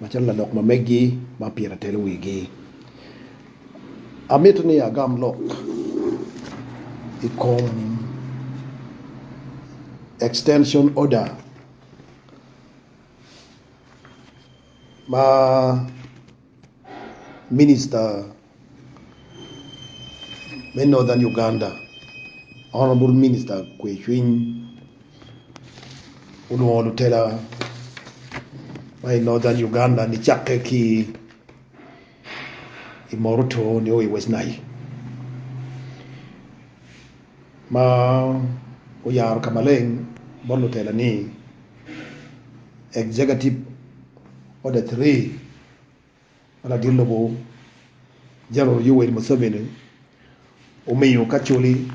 Macalo lalok ma megi ma pire atelo wigi, amito ni agam lok i kom Extension Order ma Minista, me Northern Uganda, Honourable Minister Kwe Cwiny olwongo lutela ma i Northern Uganda ni cakke ki i Moruto nio i West Nile ma oyaro ka maleng bot lutela ni Executive Order 3 Lagit lobo General Yoweri Museveni omiyo kacoli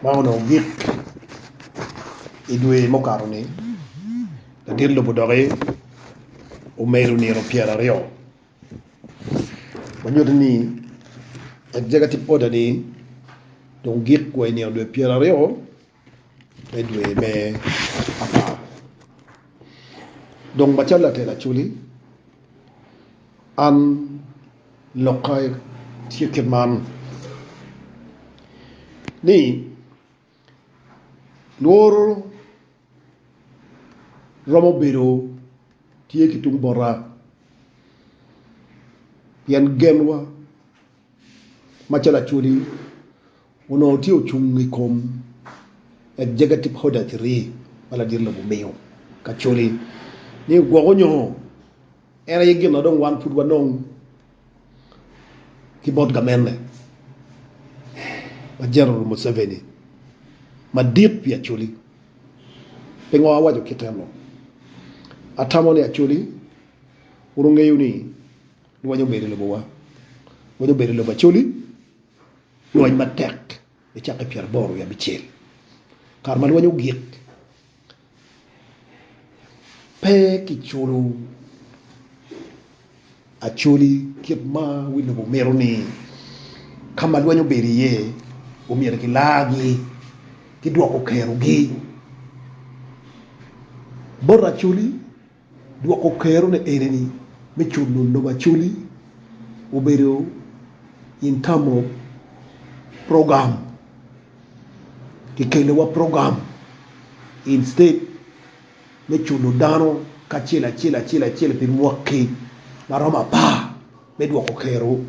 ma onongo gik i dwe mukato-ni. Lagit lobo doki omedo nino pyeraryo ma nyuto ni Executive Order-ni dong gik wa i nino dwe pyeraryo. me dwe me apar. Dong macalo latel acoli, an lokka tye kit man ni lworo romo bedo tye ki tung bota pien genwa macalo acoli. Onongo tye ocung i kom Executive Order Three ma ladit lobo omiyo Kacoli ni ogwoko nyongo. En aye gin ma dong wan pud wanong ki bot gamenne ma General Museveni madit pi Acholi. Pingo awaco kit eno? Atamo ni Acholi wun wungeyo ni lweny obedo i lobowa. Lweny obedo i lobo Acholi. Lweny matek bicakke i pyeraboro wiye abicel. Kare ma lweny ogik, pe kiculo acoli kit ma wi lobo mito ni ka ma lweny obedo iye omyero kilargi ki dwoko kerogi bot acoli. Dwoko kerone enini, me culo lobo acoli obedo in term of program kikeliwa program instead me culo dano kacel acel acel acel pi mwaki maromo apar me dwoko kero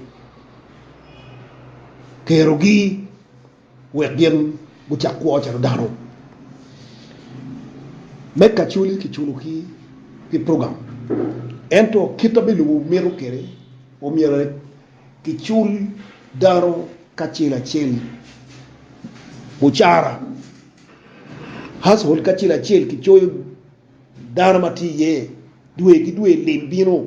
kerogi. wek gin gucak kwo calo dano me kacoli kiculo ki pi program ento kit ma bilubo mito kwede omyero kicul dano kacel acel bucara household kacel acel kicoyo dano ma tye iye dwe ki dwe lim bino.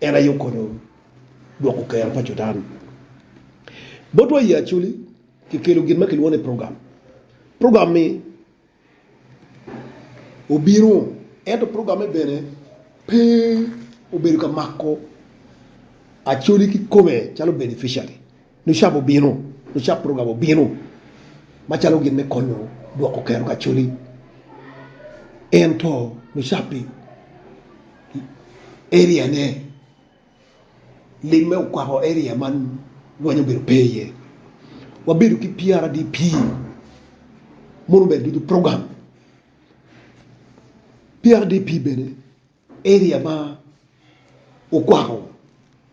En aye okonyo dwoko kero pa Cudan. Botwa i Acholi, kikelo gin ma kilwongo ni program. Program-mi obino, ento program-me bene pe obedo ka mako Acholi kikome calo beneficiary. Lucab obino, lucab program obino macalo gin me konyo gwoko kero kacoli, ento lucab i area ne limme okwako area man lweny obedo pe iye. Wabedo ki PRDP mono obedo ducu program PRDP bene. Area ma okwako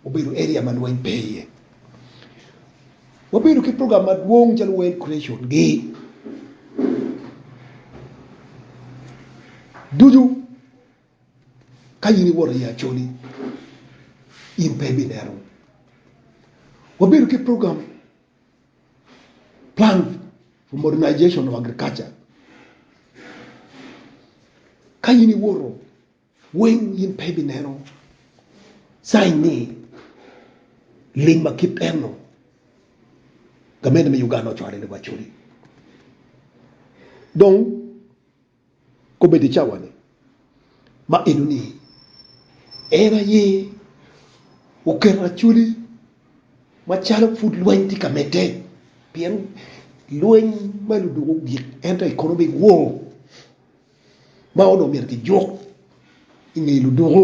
obedo area ma lweny pe iye. Wabedo ki program madwong calo World Creation gi ducu ka in iwoto iye Acholi in pe ibineno. Wabedo ki program Plan for Modernization of Agriculture, Ka in iwoto weng in pe ibineno cain ni lim ma kit eno gamente me Uganda ocwalo ni wacodi. Dong Kobedo i cawani ma enoni, en aye oketo Acholi macalo pud lweny tye ka medde, pien lweny ma ludwogo ogik ento economic war ma onongo myero kijuk i nge ludwogo.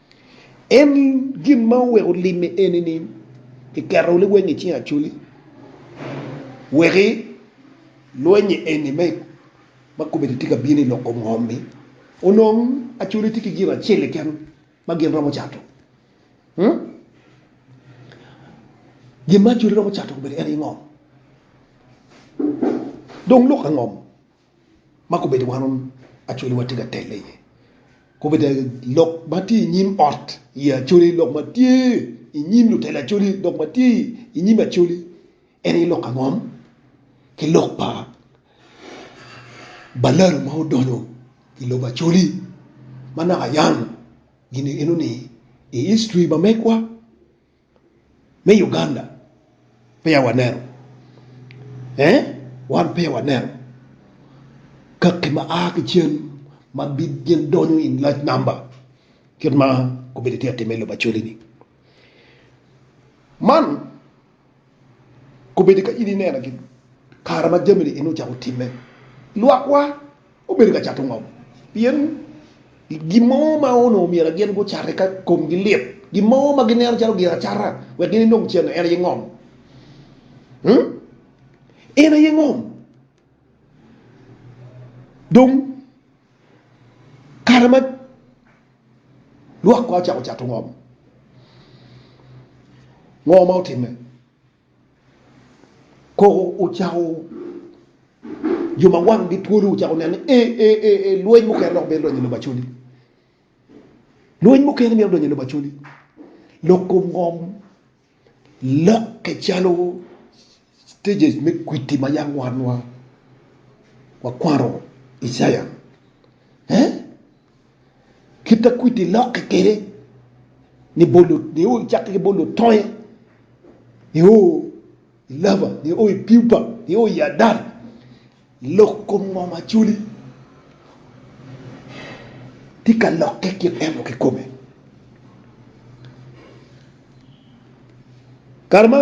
En gin ma oweko lime eni ni kiketo liweny i cing Acoli weki lwenye eni me ma kobedi tye ka bino i lok kom ngom ni onong Acoli tye ki gin acel keken ma gin romo cato. Gin ma Acoli romo cato kobedi en aye ngom. Dong lok angom? ma kobedo wan Acholi watye ka telle iye, kobedo lok ma tye i nyim ot i Acholi, lok ma tye i nyim lutela Acholi, lok ma tye i nyim Acholi en aye lok angom ki lok pa balalo ma odonyo i lobo Acholi ma naka ayano gin eno ni i history ma megwa. me Uganda peya waneno ee wan peya waneno kaki ma a ki cen ma gin donyo in large number kit ma komedo tye ka timme i lobo Acholi ni man komedo ka in ineno kare ma jami ni ocako timme lwak wa. Obedo ka cato ngom pien gin mo ma onongo myero gin gucat eka komgi lit, gin mo ma gineno calo gin acata wek gin enong cen-ni. En aye ngom. En aye ngom. Dong kare ma lwak kong ocako cato ngom, ngo ma otimme? Koko ocako jo ma wanggi twolo ocako neno ni ee, lweny mukene dok mito donyo i lobo Acholi. Lweny mukene mito donyo i lobo Acholi. Lok kom ngom lokke calo stages me kwiti ma yam wanwa wakwano Icaya. Kit ma kwidi lokke kwede ni bolo nio i cakke ki bolo toye nio i lava nio i piupa nio i adal i lok kom ngom Acholi tye ka lokke kit eno kikome. Kare ma.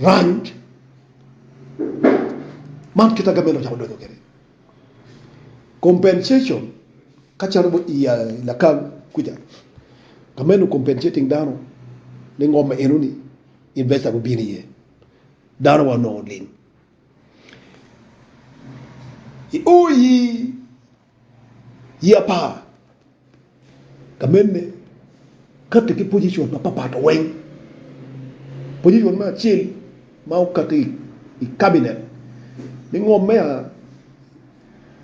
Rwany man kit ma gavment ocako donyo kwede, compensation, ka calo i Lakaw kuca gavment o compensating dano ni ngom enoni investa gubino iye dano wa onongo oling. I ur Ye apar ka mene kati ki pozicon mapapat weng. Pozicon me acel ma okati i kabinet me ngom me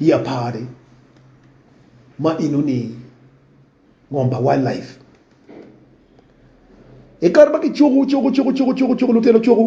ye apar-ri ma enoni ngom pa wildlife. I kare ma kicuku cuku cuku cuku lutino cuku.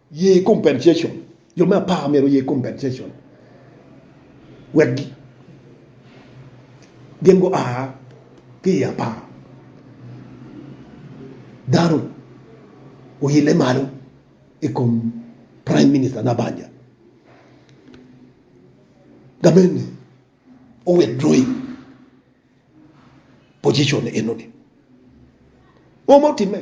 Ye compensation, Jo me apar myero oye compensation wek gin gua ki i apar. Dano oyelle malo i kom Prime Minister Nabbanja. Gamente o withdrawing position eno ni. Ngo ma otimme?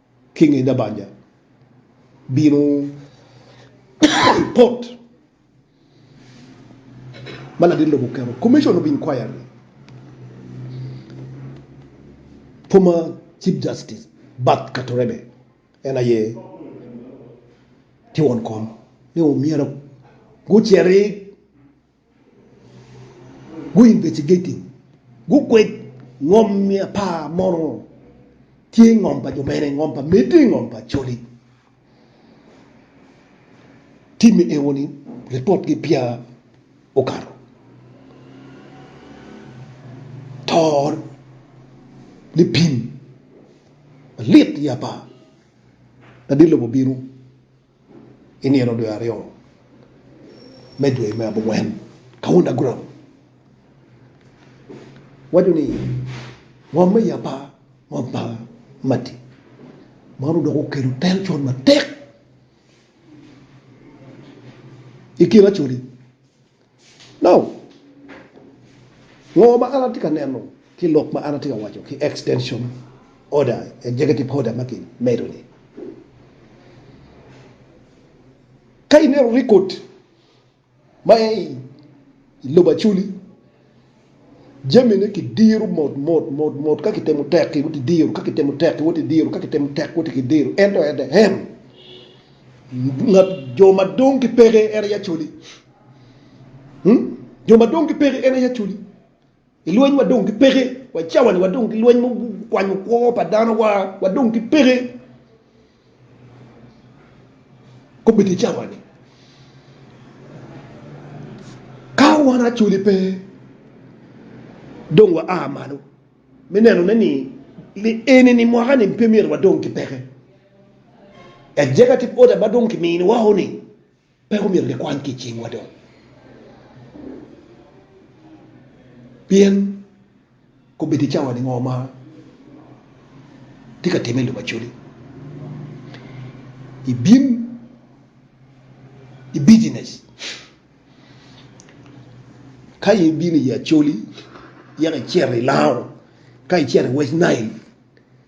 ki nge dabanja bino pot ma ladit lobo oketo, Commission of Inquiry former Chief Justice Bart Katurebe en aye tye won kom ni myero guciti Guinvestigating gukwed ngom me apar mono tye i ngom pa jo mene, ngom pa Medi, ngom pa Acholi. Tim me eo ni report gi peya okato to ni pim malit i apar, ladit lobo bino. I nino dwe aryo me dwe me abongwen, Kaunda Guram waco ni, Ngom me yapa ngom pa Matti man odoko okelo tension matek i kin Acholi. Ngo ma an atye ka neno ki lok ma an atye ka waco ki extension order, executive order ma kimedo ni? Ka ineno record ma aye i lobo Acholi. Jamine kidiro mot mot mot mot ka kitemo tek ki woti diro ka kitemo tek ki woti diro ka kitemo tek woti ki diro ento en aye en ngat jo ma dong ki peke en aye acoli hmm? jo ma dong ki peke en aye acoli i lweny wa dong ki peke wa cawa ni wa dong ki lweny mo kwanyo kwo pa dano wa wa dong ki peke Kobedo i cawa-ni ka wan Acholi pe, dong waa malo me nenone ni li eni-ni mwaka-ni pe myero wadong ki peke. Eceka tip oda ma dong kiminiwao-ni. Pe omyero gikwany ki i cingwa dong, pien kobedo i cawani ngo ma tye ka timme i lobo Acholi? Ibin i bijinec? Ka in ibino i Acholi yaka icito i Lao, ka icito i West Nile.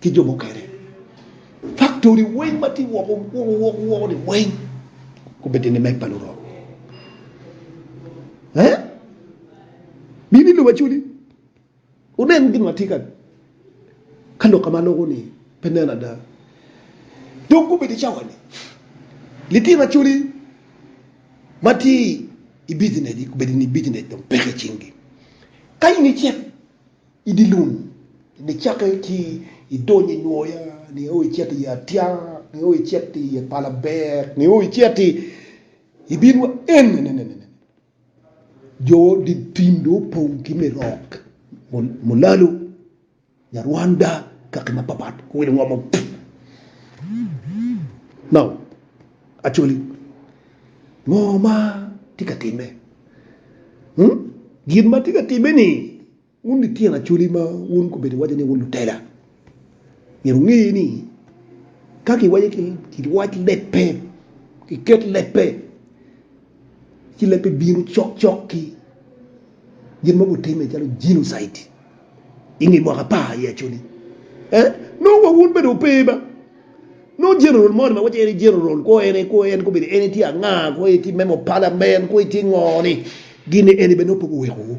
ki jo mukene. Faktori weng ma tye woko woko woko woko ni weng gubedde ni meg pa lurok. Eh? Bini i lobo acoli. Wunen gin ma tye ka ka lok ma loko ni pe nen ada. Dong gubedo i cawa ni litino acoli ma tye i business gi gubedo ni business dong peke i cingi. Ka in icit I dye lum nyo cakke ci idonyo i nwoya nio icito i atya nio icito i ye pala ber nio icito i ibin wa en enenene jo dye tim dong opong ki me rok mulalu nyarwanda kaki mapapat welo ngom. Acholi, ngo ma tye ka timme? Hmm? Gin ma tye ka timme ni, wun lityen Acholi ma wun gubedo iwaco ni wun lutela, myero wunge ni, ka kiwaco ki, kiwac lebbe, kiket lebbe. ci leb pe bino cokcok ki gin ma gutimme calo jinocide i nge mwaka apar i Acholi. Eh, nongo wa wun bene wupe ma nongo general moni ma waco en aye general kwo en aye kwo en kwo bene en aye tye anga kwo aye tye member of parliament kwo aye tye ngo ni gin ni en aye bene nongo pe guweko wu.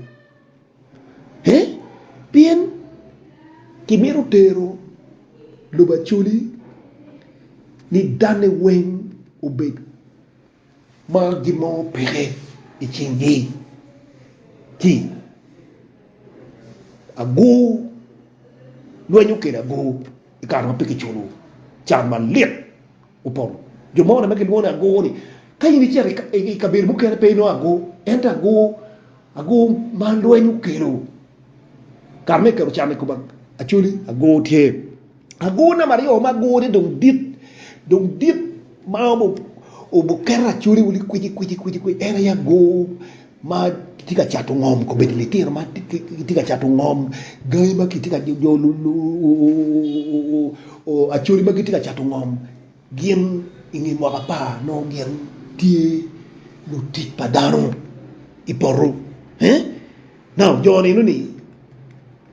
Eh, pien kimito tero lobo Acholi ni danne weng obed. Ma gin mo peke i cingi ci agur lwenyo kwede agur i kare ma pe kiculo can malit opong. Jo moni ma gilwongo ni agur ni ka in icito i kabedo mukene pe inongo agur ento agur agur ma lweny okelo kare me keto can i kom Acholi agur tye. Agur namba aryo ma gure dong dit, dong dit ma obuketo acoli wili kwici kwici kwici kwici en aye agur ma kitye ka cato ngom kobedo litino ma kitye ka cato ngom gangi ma kitye ka jo acoli ma gitye ka cato ngom gin inge mwaka apar nongo gin tye lutic pa dano i poto. Now jo nino ni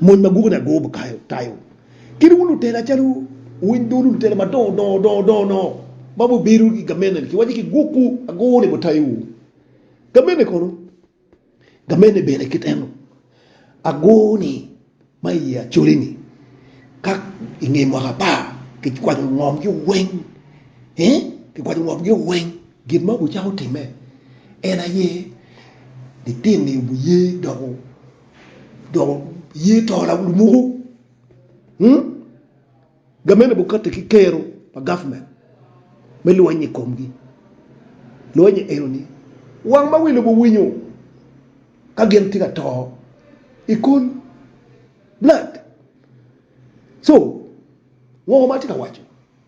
Mony ma gubo ni ago bikayo tayo kit wu lutela calo winy dulu lutela madongo dongo dongo dongo dongo ma wubedo ki gamene ni kiwaco ki gokwu ago ni bitayowu. Gamene kono gamene bene kit eno ago ni ma i ye acoli ni ka inge mwaka apar kikwaco ngom gi weng kikwaco ngom gi weng. Gin ma wucako timme en aye, litino-ni wuye doko doko ye to lumuku, gamene bukati ki kero pa government me lweny i komgi. Lweny enoni wang ma wi lobo winyo ka gin tye ka to i kul, blood. So ngo ma atye ka waco?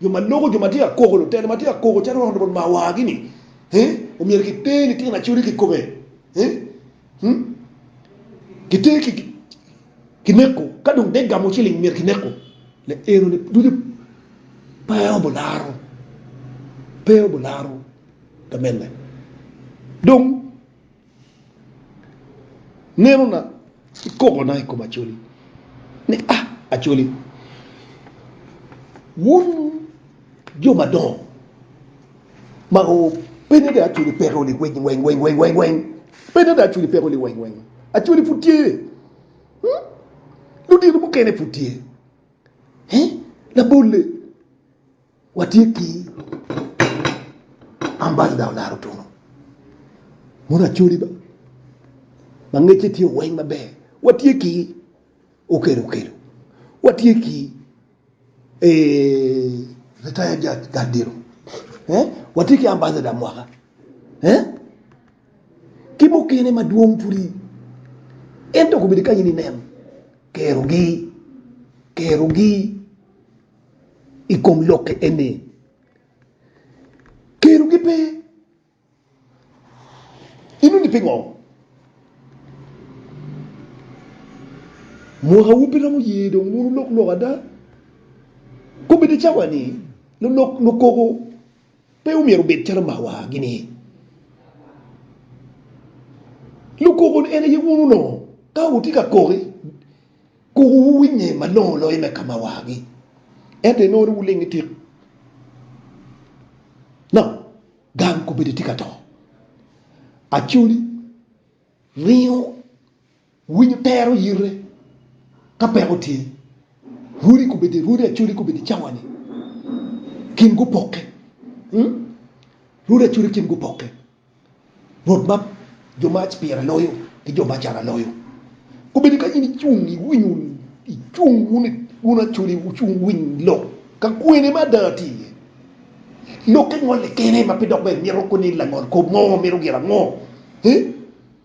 Jo ma loko jo ma tye ka koko, lutela ma tye ka koko calo rono bot mawagi ni, Ee, omyero kiter litino acoli kikome, ee, hmm, kiter ki, kineko, ka dong te gamo ciling myero kineko. Le enoni ducu pe obularo, pe obularo gamelle. Dong. Nenona ki kokona i kom Acholi ni, A Acholi, wun jo madongo ma pe nongo dong Acholi peko li weng weng weng weng weng weng, pe nongo dong Acholi peko li weng weng, Acholi pud tye, ludito mukene pud tye, labole. Watye ki Ambassador Olaro Otuno mono Acholi ba ma ngecce tye oweng maber, watye ki Okelo Okelo, watye ki Retired Judge Gal Diro, watye ki Ambassador Mwaka ki mukene madwong pwodi ento gubedo kany nen kerogi kerogi. i kom lokke eni, kelogi pe. Inongo ni pingo? Mwakawu pe romo ye dong wun wulok lok ada? Kobeddi i cawa-ni, lulok lukoko pe omyero obed calo mawa-gini. Lukoko-ni en aye wun onongo. Ka wutye ka koki. Koko wuwinye malongo loyo me ka ma wagi, ento inongo ni wulingo itik dok gang kobedi itye ka to. Acholi ringo winyo tero yite ka peko tye, rwodi kobedi rwodi acholi kobedi cawani kin gupokke, rwodi acholi kin gupokke. Rwot ma jo ma pire loyo ki jo ma cara loyo, kobedo ka in icung iwinyo icung wun acoli wucung winy lok ka kwene ma ada tye iye. Lokke ngole kene ma pe dok bene mito koni langol kop mo mito gin ango?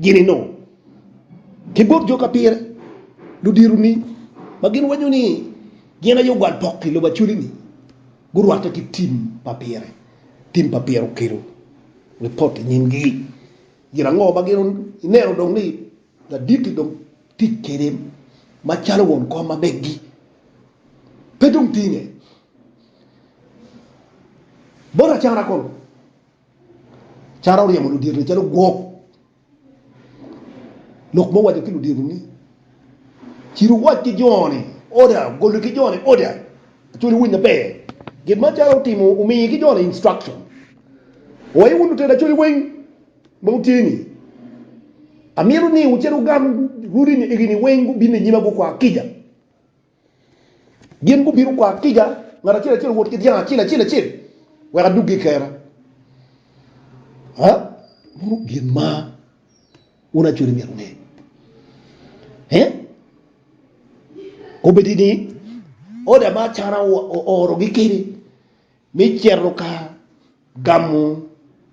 gini nongo ki bot jo ka pire, ludironi, ma gin waco ni gin aye ogwal pok i lobo Acholi-ni, gurwatte ki tim pa pire. Tim pa pire okelo ripot i nyimgi. Gin ango ma gin ineno dong ni ladit-ti dong tic kwede macalo won kom ma meggi pe dong tinge bot acara kulu? Cara oryemo ludito-ni calo gwok. Lok ma owaco ki ludito ni, Cit wuwac ki jo-ni, Oda! Goli ki jo-ni, Oda! Acwali wuwiny maber. Gin ma Cara otimo, omiye ki jo-ni instruction. Wai wun lutino acwali weng ma wutye ni, amito ni wucit wugam runi-ni igi-ni weng gubin i nyima gukwa kica. Gin gubino kwar kica, ngat acel acel owot ki dyang acel acel acel, wek aduggi i kera. Meno gin ma wun acoli myero wunge. Obedi ni oda ma Acana oorogi kwede, Me cito ka gamo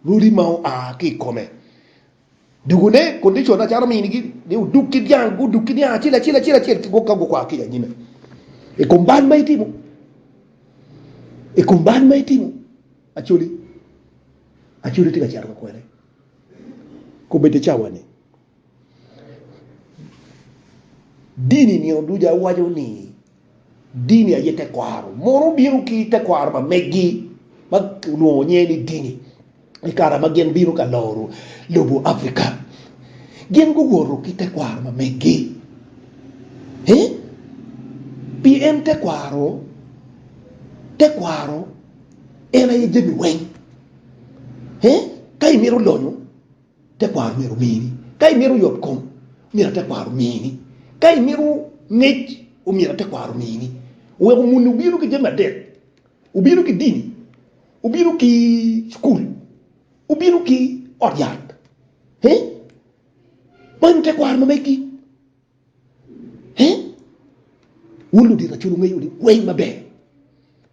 rodi ma oa ki i kome. Dogone, condition, acalo minigi ni odug ki dyang, gudug ki dyang acel acel acel acel ki gwok ka gukwa ki i anyime. I kom bal ma itimo, i kom bal ma itimo, Acholi, Acholi tye ka cito ka kwene. Kobbe ite cawa ni. Dini nio duca waco ni dini aye tekwaro mono obino ki tekwaro pa meggi ma olwongo nyinge ni dini i kare ma gin bino ka loro lobo Africa. Gin guwoto ki tekwaro pa meggi eh pi en tekwaro tekwaro en aye jami weng eh ka imito lonyo. Tekwaro myero omini. Ka imito yotkom, omyero tekwaro omini. Ka imito ngec, omyero tekwaro omini. Wek omuni obino ki jami adek, obino ki dini, obino ki cukul, obino ki ot yat. He? Manyo tekwaro ma megi. He? Wun ludito acol wungeyo ni weng maber.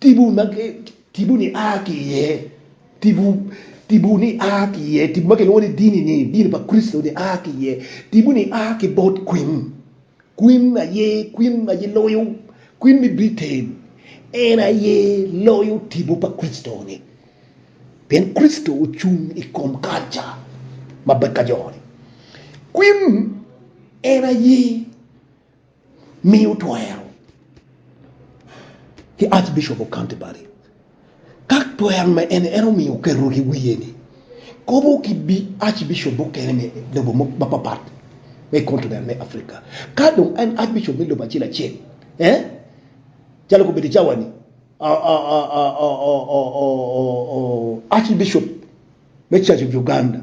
Tipo ma ki, tipo ni a ki iye, tipo, tipo ni a ki iye, tipo ma kilwongo ni dini ni, dini pa Kricito ni a ki iye. Tipo ni a ki bot kwin, kwin aye, kwin aye loyo, kwin me Britain, en aye loyo tipo pa Kricito ni, pien Kricito ocung i kom kalca ma beka jo ni. Kwin en aye. miyo twero ki Archbishop of Canterbury. Ka twero ma en en omiyo oketo ki wiye ni kobo ki Archbishop mukene me lobo mapapat me continent me Africa. Ka dong en Archbishop me lobo acel acel, eh, calo kobedo cawa ni Archbishop me Church of Uganda,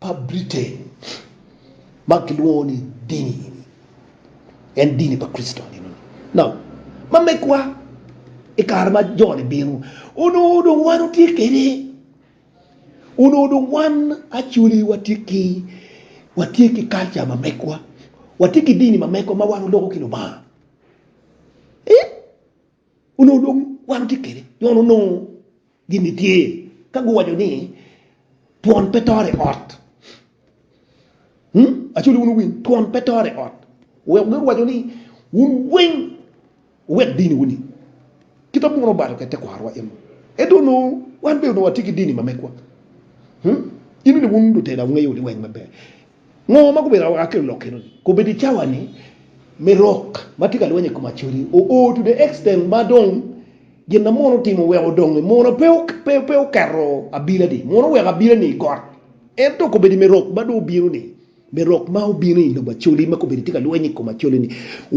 pa Britain ma kilwongo ni dini eni en dini pa Kricito nino ni? No. Ma megwa, i kare ma jo-ni bino, onongo dong wan otye kede, onongo dong wan acoli watye ki watye ki kalca ma megwa, watye ki dini ma megwa ma wan oloko ki Lubanga. Ee, Onongo dong wan watye kwede nyo onongo gin ni tye ka guwaco ni twon pe toro i ot. Actually wun wuwinyo twon pe toro i ot. Weko gin waco ni wun weng wuwek dini wuni. Kita muno obalo kwede tekwarowa en. Ento onongo wan bene onongo watye ki dini ma megwa. In ni wun lutela wungeyo ni weng maber. Ngo ma gubedo awaka ki olok eno-ni? Kobedo i cawa ni me rok ma tye ka lweny i kom acodi o o to the extent ma dong gin na mono otimo oweko donge mono pe pe pe oketo abila ni mono oweko abila ni got ento kobedo me rok ma dong obino ni me rok ma obino i lobo acodi ma kobedo tye ka lweny i kom acodi ni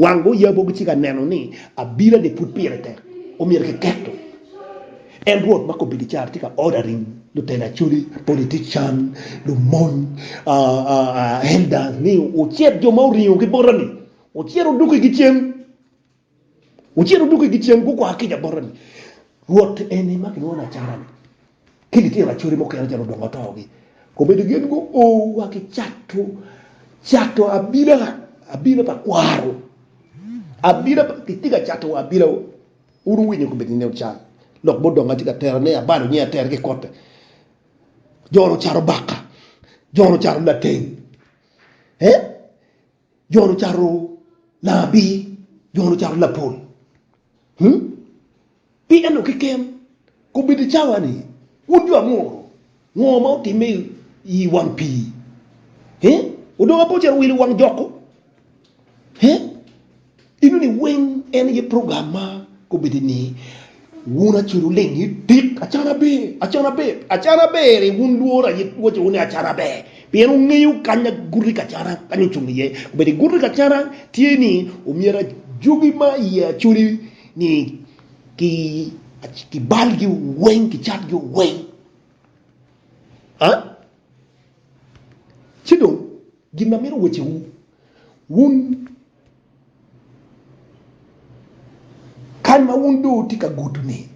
wang gi oyabo gitye ka neno ni abila ni pud pire tek omyero ki keto En Rwot ma kobbe gicar tye ka oda ring, lutelo acholi, politician, lumony, elders ni wucit jo ma oringo ki bota-ni, wucit wuduk igi cen, wucit wuduk igi cen, gukwako kica bota-ni. Rwot eni ma kilwongo ni acara-ni, ki litino acholi mukene calo odongo atogi, obedo gin guo wa ki cato, cato abila, abila pa kwaro, abila pa, kitye ka cato wa abila. Wun wuwinyo kome ni nino cal lok mo donge atye ka tera ne abalo nyi ater ki kote joro caro baka joro caro lateng eh joro caro labi joro caro lapol hmm pi eno keken Kobedo cawa ni, Wun jo amuru, ngo ma otimme i wang pii? He? Odong apo calo wil i wang jokku? He? Inu ni weng en aye program ma kobedo ni, Wun acel wuleng ni, Tit, acan aber, acan aber, acan aber-ri wun lworo aye waco ni acan aber, pien wungeyo kany aguti ka cana kany ocung iye. Kobedo iguti ka cana tye ni omyero ajugi ma iye acoli ni, kibalgi weng, kicatgi weng. A Ci dong gin ma mito wecewu, wun kany ma wun dong wutye ka gudo-ni,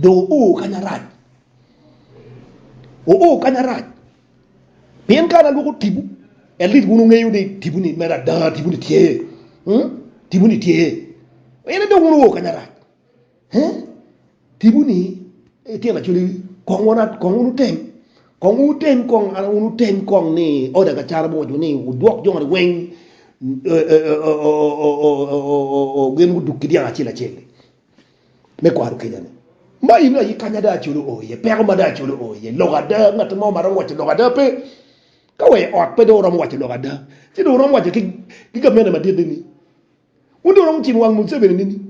dong wuo kany arac, wuo kany arac. Pien ka an alwoko tibu, en lit wun wungeyo ni tibuni mere ada, tibuni tye, tibuni tye, en aye dong wun wuo kanya rac. Tibuni tyen acoli, kong wun wutem, kong wun wutem kong, an wun wutem kong ni oda ka cara biwaco ni wudwok joni weng gin guduk ki dyang acel acel-li. me kwaro kica-ni. Ma ino aye kany ada Acholi oo iye, peko ma ada Acholi oo iye, lok ada. Ngat mo ma romo waco lok ada pe. Ka wa i ot pe dong wuromo waco lok ada, ci dong wuromo waco ki gamente madit ni, Wun dong wuromo cimo wang Museveni nini?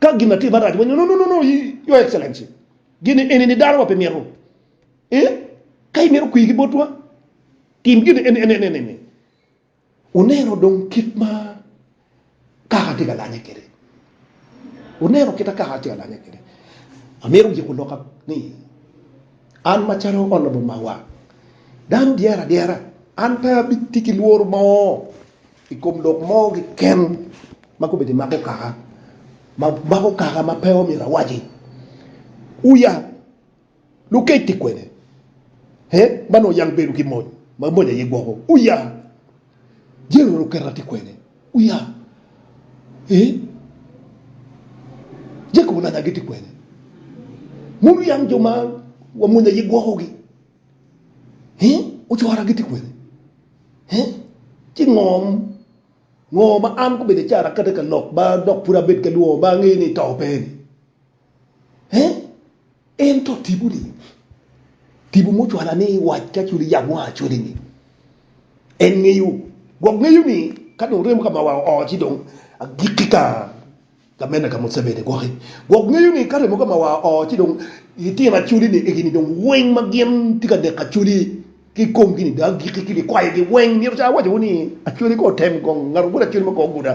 Ka gin atima rac, wunywako ni, No, no, no, Your Excellency, gin eni-ni dano wa pe mito. Ee, ka imito kwir ki botwa, tim gin eni, eni, eni, eni. Wuneno dong kit ma kaka atye ka lanye kwede. Wuneno kit ma kaka atye ka lanye kwede. Amito wuyiko loka ni, An macalo Honorable Mawa, dano dyere adyera, an pe abitye ki lworo mo i kom lok mo keken ma gubedo i mako kaka ma pe omyero awaci. Wuyab. Lukec ki kwene he ma nongo yam gibedo ki mony ma mony aye gwoko uya Jeru luketa ki kwene uya he Jacob olanya gi ti kwene Mon uyang jo ma wa mony aye gwoko gi he Ocora gi ti kwene he Ci ngom ngo ma an gubedo icara kati ka lok ba dok pud abed ka lwongo ba angeyo ni ito pe ni. Ento tipo-ni, tipo mucwala ni wac ka codi yam wa codi-ni, en ngeyo gwok ngeyo ni ka dong remo ka mawa oo ci dong agikki ka gamenna ka Museveni gwoki. Gwok ngeyo ni ka remo ka mawa oo ci dong litino acoli-ni egini dong weng ma gin tye ka neko acoli ki i komgi-ni dong agikki ki bikwayogi weng. Myero ca awac-wu ni acoli ka otem gong ngato gudo acoli ma kong oguda.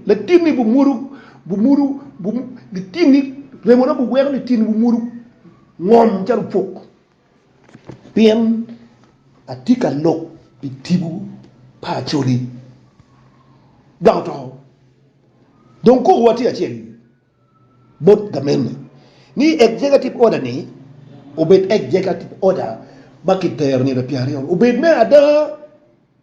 Latinni bumwodo, bumwodo, bum, litinni, remona buweko litinni bumwodo ngom calo puk, pien atye ka lok pi tipo pa Acholi, dok otoko. Dong kokowa tye acel-li bot gamente ni Executive Order-ni obed Executive Order ma kitero nino pyeraaryo, obed me ada